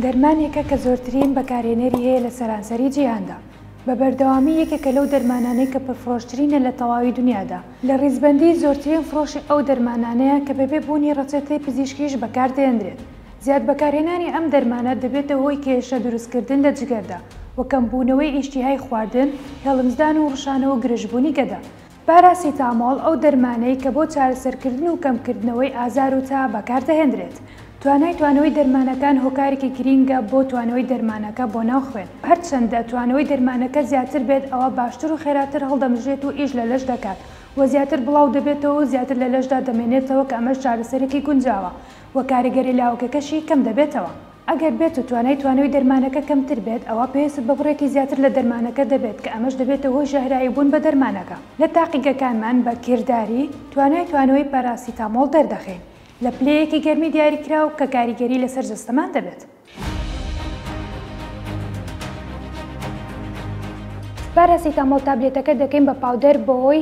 دەرمانێکە کە زۆرترین بەکارهێنەری هەیە لە سەرانسەری جیهاندا، بە بەردەوامی یەکێکە لەو دەرمانانەی کە پرفرۆشترینە لە تەواوی دونیادا، لە ڕیزبەندیی زۆرترین فڕۆشی ئەو دەرمانانەیە کە بەبێ بوونی ڕەچەتەی پزیشکیش بەکاردەهێنرێت، زیاد بەکارهێنانی ئەم دەرمانە دەبێتە هۆی کێشە دروستکردن لە جگەردا و کەمبوونەوەی ئیشتیهای خواردن، هێڵمزدان و ڕشانە و گرژبوونی گەدە. پاراسیتامۆڵ ئەو دەرمانەی کە بۆ چارەسەرکردن و کەمکردنەوەی ئازار و تا بەکاردەهێندرێت. توانای توانەوەی دەرمانەکان هۆکارێکی گرینگە بۆ توانەوەی دەرمانەکە بۆ ناو خوێن. هەرچەندە توانەوەی دەرمانەکە زیاتر بێت ئەوا باشتر و خێراتر هەڵدەمژرێت و ئیش لە لەش دەکات و زیاتر بڵاو دەبێتەوە و زیاتر لە لەشدا دەمێنێتەوە کە ئەمەش چارەسەرێکی گونجاوە و کاریگەری لاوەکەکەشی کەم دەبێتەوە. ئەگەر بێت و توانای توانەوەی دەرمانەکە کەمتر بێت ئەوا پێویستت بە بڕێکی زیاتر لە دەرمانەکە دەبێت کە ئەمەش دەبێتە هۆی ژەهراوی بوون بە دەرمانەکە. لە تاقیگەکانمان بە کرداری توانای توانەوەی پاراسیتامۆڵ دەردەخەین لە پلەیەکی گەرمی دیاریکراو کە کاریگەری لەسەر جەستەمان دەبێت. پاراسیتامۆڵ تابلێتەکە دەکەین بە پاودەر بەهۆی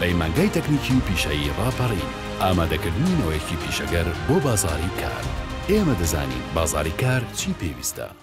پەیمانگای تەکنیکی و پیشەیی ڕاپەڕین، ئامادەکردنی نەوەیەکی پیشەگەر بۆ بازاڕی کار. ئێمە دەزانین بازاڕی کار چی پێویستە.